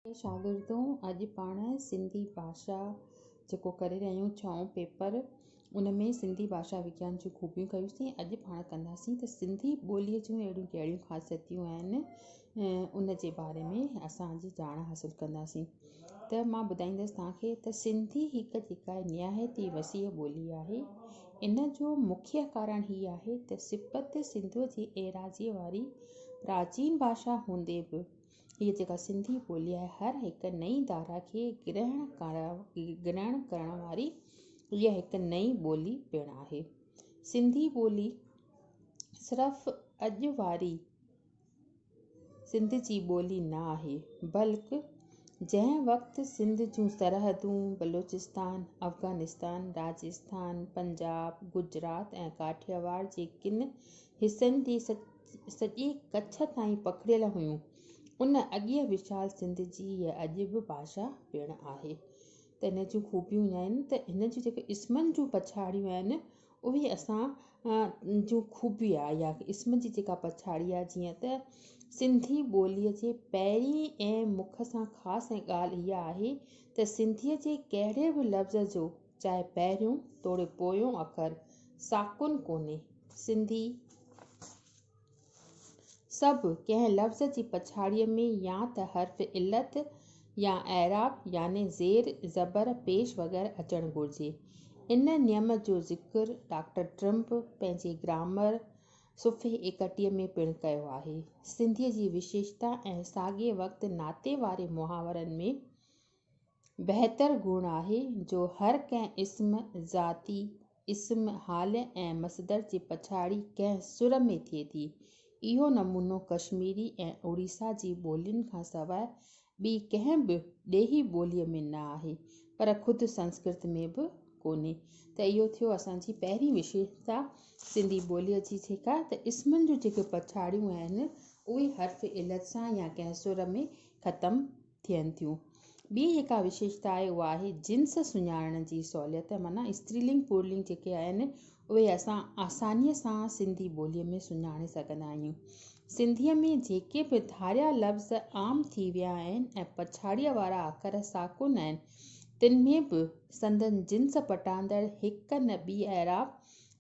اي شاگردو! اڄ پاڻ سنڌي ڀاشا جيڪو ڪري رهيا آهيون ڇهون پيپر ان ۾ سنڌي ڀاشا وگيان جون خوبيون ڪيوسين اڄ پاڻ ڪنداسين ته سنڌي ٻوليء جون اهڙيون ڪهڙيون خاصيتيون آهن ان جي باري ۾ اسان اڄ ڄاڻ حاصل ڪنداسين ته مان ٻڌائيندس توهان کي ته سنڌي هڪ جيڪا نهايت ئي وسيع ٻولي آهي ان جو مکيه ڪارڻ هي آهي ته سپت سنڌوء جي ايراضيء واري پراچين ڀاشا هوندي به هيء جيڪا سنڌي ٻولي آهي، هر هڪ نئين ڌارا کي گرهڻ ڪرڻ واري اها هڪ نئين ٻولي پڻ آهي. سنڌي ٻولي صرف اڄ واري سنڌ جي ٻولي نه آهي، بلڪ جنهن وقت سنڌ جون سرحدون بلوچستان، افغانستان، راجستان، پنجاب، گجرات ۽ ڪاٺياواڙ جي ڪن حصن جي سڄي ڪڇ تائين پکڙيل هيون. ان اڳيئي وشال سنڌ جي هيء اڄ به ڀاشا پڻ آهي ته ان جون خوبيون اهي آهن ته هن جون جيڪي اسمن جون پڇاڙيون آهن اهي اسان جون خوبي آهي يا اسم جي جيڪا پڇاڙي آهي جيئن ته سنڌي ٻوليء جي پهرين ۽ مک سان خاص ڳالهه اها آهي ته سنڌيء جي ڪهڙي به لفظ جو چاهي پهريون توڙي پويون اکر ساڪن ڪونهي سنڌي سڀ ڪنهن لفظ جي پڇاڙيء ۾ يا ته حرف علت يا اعراب يعني زير زبر پيش وغيره اچڻ گهرجي ان نيم جو ذڪر ڊاڪٽر ٽرمپ پنهنجي گرامر صفحي ايڪٽيهه ۾ پڻ ڪيو آهي سنڌي جي وشيشتا ۽ ساڳئي وقت ناتي واري محاورن ۾ بهتر گڻ آهي جو هر ڪنهن اسم، ذاتي اسم، حال ۽ مصدر جي پڇاڙي ڪنهن سر ۾ ٿئي ٿي. اهو نمونو ڪشميري ۽ اوڙيسا جي ٻولين کان سواء ٻي ڪنهن به ڏيهي ٻوليء ۾ نه آهي، پر خود سنسڪرت ۾ به ڪونهي. ته اهو ٿيو اسان جي پهرين وشيشتا سنڌي ٻوليء جي جيڪا ته اسمن جون جيڪي پڇاڙيون آهن، اهي حرف علت سان يا ڪنهن سر ۾ ختم ٿين ٿيون. ٻي جيڪا وشيشتا آهي اها آهي جنس سڃاڻڻ جي سهوليت معنيٰ استري لنگ پور لنگ جيڪي آهن اهي اسان آساني سان سنڌي ٻولي ۾ سڃاڻي سگهندا آهيون. سنڌي ۾ جيڪي به ڌاريا لفظ عام ٿي ويا آهن ۽ پڇاڙيء وارا اکر ساڪن آهن تن ۾ به سندن جنس پٽاندڙ هڪ نه ٻي اعراب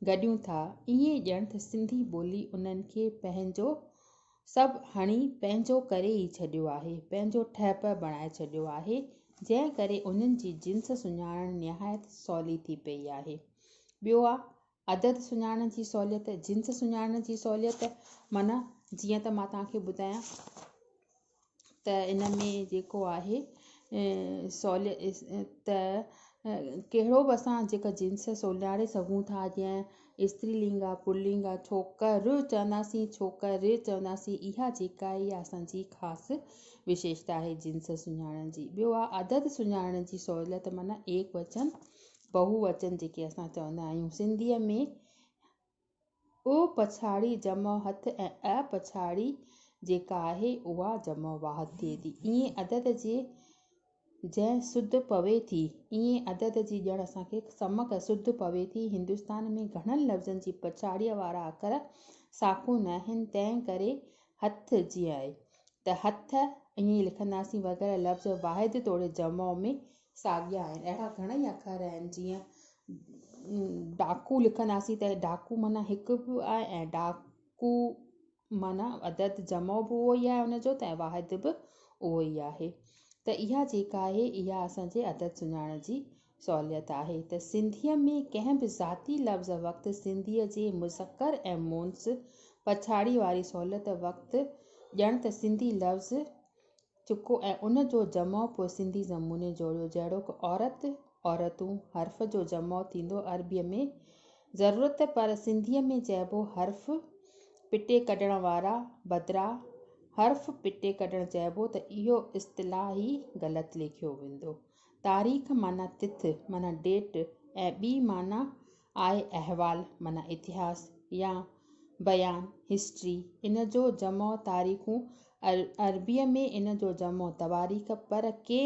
گڏيون ٿا ائين ڄڻ ته سنڌي ٻولي انهن کي پنهنجو سڀ هڻي پنهنجو ڪري ئي ڇڏيو آهي، پنهنجو ٺهپ بڻائي ڇڏيو آهي، جنهن ڪري انهن جي جنس سڃاڻڻ نهايت سولي ٿي پيئي آهي. ٻيو آ عدد سڃاڻڻ جي سهوليت، جنس سڃاڻڻ جي سهوليت معنيٰ جيئن ته مان توهان کي ٻڌايان. ته ان ۾ جيڪو آهي سولي ته ڪهڙو به اسان جيڪا جنس سولياڙي سگهون ٿا جيئن استري لنگ آ پل لنگ آ ڇوڪر چونداسين ڇوڪري چونداسين اها جيڪا آهي اها اسانجي خاص وشيشتا آهي جنس سڃاڻڻ جي ٻيو آ عدد سڃاڻڻ جي سهولت معنيٰ ايڪ وچن بهو وچن جيڪي اسان چوندا آهيون سنڌيء ۾ او پڇاڙي جمع هٿ ۽ اء پڇاڙي جيڪا آهي اها جمع واحد ٿئي ٿي. ائين عدد جي جنهن سڌ پوي ٿي، ائين عدد جي ڄڻ اسان کي سمڪ ۽ سڌ پوي ٿي. هندستان ۾ گهڻن لفظن جي پڇاڙيء وارا اکر ساکو ناهن، تنهن ڪري هٿ جيئن آهي ته هٿ، ائين لکنداسين وغيره لفظ واحد توڙي جمع ۾ ساڳيا آهن. اهڙا گهڻئي اکر آهن جيئن ڊاڪو لکنداسين ته ڊاڪو معنيٰ هڪ به آهي ۽ ڊاڪو معنيٰ عدد جمع به اهو ئي آهي ان جو ته واحد به اهو ئي آهي ته اها جيڪا آهي اها اسان جي عدد سڃاڻڻ جي سهوليت آهي ته سنڌيء ۾ ڪنهن به ذاتي لفظ وقت سنڌيء جي مذڪر ۽ مونث پڇاڙي واري سهوليت وقت ڄڻ ته سنڌي لفظ چڪو ۽ ان جو جمع پوء سنڌي زموني جوڙيو جهڙوڪ، عورت، عورتون، حرف جو جمع ٿيندو عربيء ۾ ضرورت پر سنڌيء ۾ چئبو حرف پٽي ڪڍڻ وارا بدران حرف پٽي ڪڍڻ چئبو ته اهو اصطلاح ئي غلط ليکيو ويندو. تاريخ معنيٰ تٿ معنيٰ ڊيٽ ۽ ٻي معنيٰ آء احوال معنيٰ اتهاس يا بيان، History، ان جو جمع تاريخون، عربيء ۾ ان جو جمع تواريخ، پر ڪي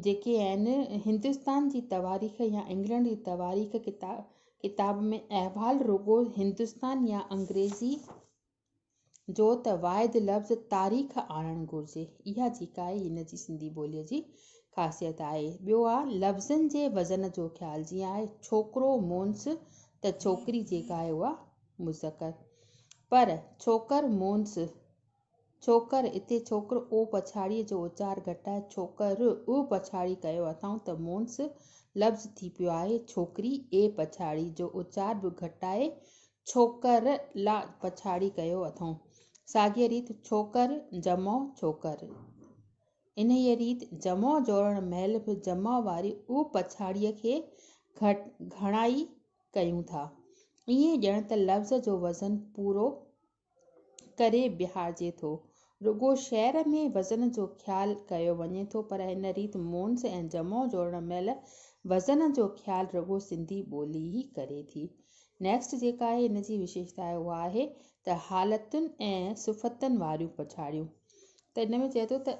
جيڪي آهن هندستان جي تواريخ يا انگلنڊ جي تواريخ ڪتاب ۾ احوال رڳو هندستان يا انگريزي، جو ته واحد لفظ تاريخ آڻڻ گهرجي، اها جيڪا آهي هن جي سنڌي ٻوليء جي خاصيت آهي. ٻيو آهي لفظن جي وزن جو خيال، جيئن آهي ڇوڪرو مونس ته ڇوڪري جيڪا آهي اها مذڪر، پر ڇوڪر مونس، ڇوڪر، اتي ڇوڪر او پڇاڙيء جو اچار گهٽائي ڇوڪر ء پڇاڙي ڪيو اٿائون ته مونس لفظ ٿي پيو آهي ڇوڪري اي پڇاڙي جو اچار به گهٽائي ڇوڪر لا پڇاڙي ڪيو اٿئون. ساڳيء ريت ڇوڪر جمع ڇوڪر. انهيء ريت جمع جوڙڻ مهل به جمع واري او پڇاڙيء کي گهڻائي ڪيون ٿا. ائين ڄڻ ته لفظ جو وزن پورو ڪري بيهارجي ٿو. رڳو شعر ۾ وزن جو خيال ڪيو وڃي ٿو پر هن ريت مونس ۽ جمع جوڙڻ مهل وزن جو خيال رڳو سنڌي ٻولي ئي ڪري ٿي. Next جيڪا آهي هن جي وشيشتا آهي اها آهي ته حالتن ۽ صفتن واريون پڇاڙيون ته هن ۾ چئي ٿو ته.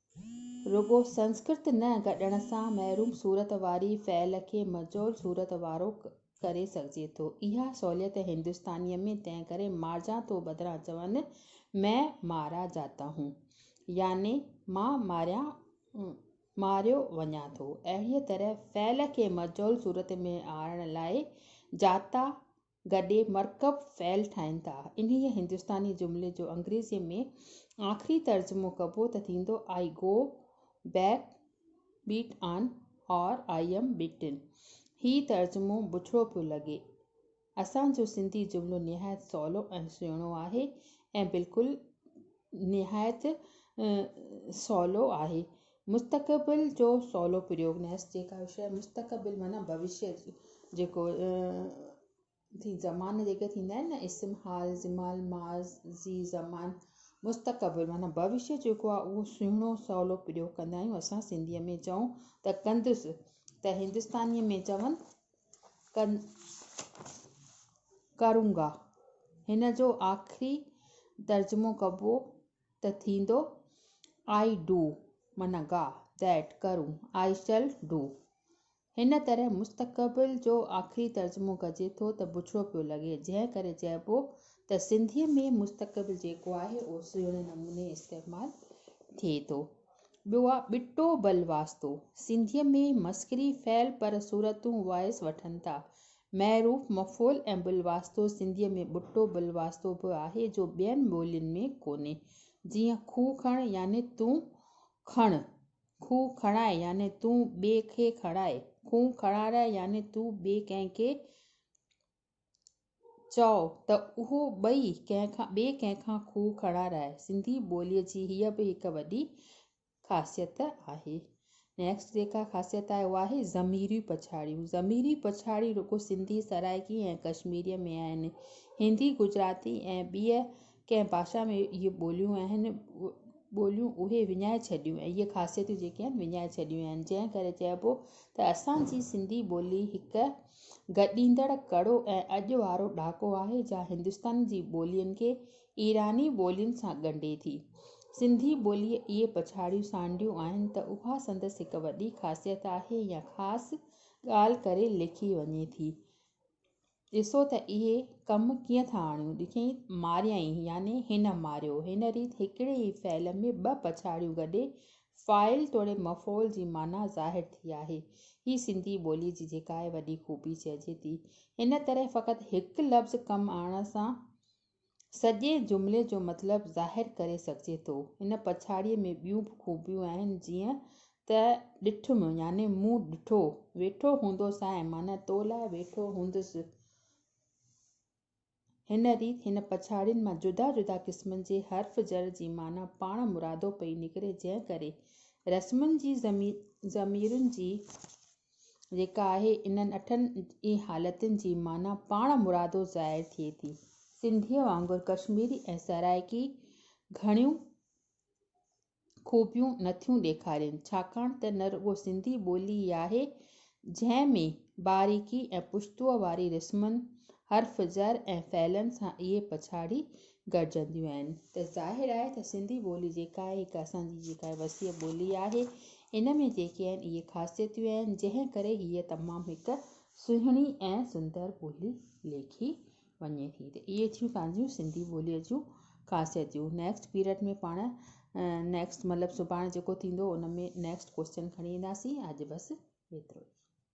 رڳو سنسڪرت نه گڏڻ سان محروم صورت واري فعل کي مجهول صورت وارو ڪري سگهجي ٿو. اها سهوليت هندستانيء ۾ تنهن ڪري مارجان ٿو بدران چون مين مارا جاتا هون يعني مان ماريان ماريو وڃان ٿو. اهڙيء طرح فعل کي مجهول صورت ۾ آڻڻ لاء جاتا، گڏي مرڪب فعل ٺاهن ٿا. انهيء هندستاني جملي جو انگريزيء ۾ آخري ترجمو ڪبو ته ٿيندو I go back bet on or I am beaten. هي ترجمو بڇڙو پيو لڳي. اسان جو سنڌي جملو نهايت سولو ۽ سهڻو آهي ۽ بلڪل نهايت سولو آهي. مستقبل جو سولو پريوڳ نيس جيڪا شيء مستقبل معنيٰ ڀوشيه جيڪو ٿي زمان جيڪي ٿيندا آهن نه اسم حال زمال ماضي زمان مستقبل معنيٰ ڀوشيه جيڪو آهي اهو سهڻو سولو پريوڳ ڪندا آهيون اسان سنڌي ۾ چئون ته ڪندس ته هندستاني ۾ چون ڪرون گا. هن جو آخري ترجمو ڪبو ته ٿيندو، I do، معنيٰ گا، That، ڪرون، I shall do. هن طرح مستقبل جو آخري ترجمو ڪجي ٿو ته بڇڙو پيو لڳي، جنهن ڪري چئبو ته سنڌيء ۾ مستقبل جيڪو آهي اهو سهڻي نموني استعمال ٿئي ٿو. ٻيو آ ٻٽو بل واسطو. سنڌيء ۾ مسخري فعل پر صورتون وائس وٺن ٿا. معروف مفعول ۽ بل واسطو سنڌيء ۾ ٻٽو بل واسطو به آهي جو ٻين ٻولين ۾ ڪونهي. جيئن کون کڻ يعني تون کڻ، کون کڻاء يعني تون ٻئي کي کڻاء، کون کڻارائي يعني تون ٻئي ڪنهن کي چئو ته اهو ٻئي ڪنهن کان ٻئي ڪنهن کان کوهه کڻائڻ آهي. سنڌي ٻوليء جي هيء به هڪ وڏي خاصيت آهي. Next جيڪا خاصيت آهي اها آهي ضميريون پڇاڙيون. ضميري پڇاڙيون رڳو سنڌي، سرائڪي ۽ ڪشميريء ۾ آهن. هندي، گجراتي ۽ ٻيء ڪنهن باشا ۾ اهي ٻوليون آهن، ٻوليون اهي وڃائي ڇڏيون ۽ اهي خاصيتون جيڪي آهن وڃائي ڇڏيون آهن. جنهن ڪري چئبو ته اسان جي سنڌي ٻولي هڪ گڏيندڙ ڪڙو ۽ اڄ وارو ڏھاڪو آھي جا ھندستان جي ٻولين کي ايراني ٻولين سان ڳنڍي ٿي. سنڌي ٻوليء اھي پڇاڙيون سانڍيون آھن ته اھا سندس ھڪ وڏي خاصيت آھي يا خاص ڳالھه ڪري ليکي وڃي ٿي. ڏسو ته اھي ڪم ڪيئن ٿا آڻيون. ڏٺئين، ماريائين يعني ھن ماريو. ھن ريت ھڪڙي ئي فعل ۾ ٻه پڇاڙيون گڏي فاعل توڙي مفعول جي معنيٰ ظاهر ٿي آهي. هي سنڌي ٻوليء جي جيڪا آهي وڏي خوبي چئجي ٿي. هن طرح فقط هڪ لفظ ڪم آڻڻ سان سڄي جملي جو مطلب ظاهر ڪري سگهجي ٿو. ان پڇاڙيء ۾ ٻيون به خوبيون آهن جيئن ته ڏٺم يعني مون ڏٺو، ويٺو هوندوسانء معنيٰ تو لاء ويٺو هوندس، هن ريت هن پڇاڙين مان جدا جدا قسمن جي حرف جر جي معنيٰ پاڻ مرادو پئي نڪري جنهن ڪري رسمن جي ضميرن جي جيڪا آهي انهن اٺن ئي حالتن جي معنيٰ پاڻ مرادو ظاهر ٿئي ٿي. سنڌيء وانگر ڪشميري ۽ سرائڪي گهڻيون خوبيون نه ٿيون ڏيکارين ڇاڪاڻ ته نه رڳو سنڌي ٻولي ئي آهي جنهن ۾ باريڪي ۽ پڇتوء واري رسمن، حرف زر ۽ فعلن سان اهي پڇاڙي گڏجنديون آهن ته ظاهر آهي ته سنڌي ٻولي جيڪا آهي هڪ اسان جي جيڪا هي وسيع ٻولي آهي ان ۾ جيڪي آهن اهي خاصيتيون آهن جنهن ڪري هيء تمام هڪ سهڻي ۽ سندر ٻولي ليکي وڃي ٿي ته اهي ٿيون پنهنجون سنڌي ٻوليء جون خاصيتون نيڪسٽ پيريڊ ۾ پاڻ نيڪسٽ مطلب سڀاڻي جيڪو ٿيندو ان ۾ نيڪسٽ ڪويسچن کڻي اينداسين اڄ بس ايترو ئي.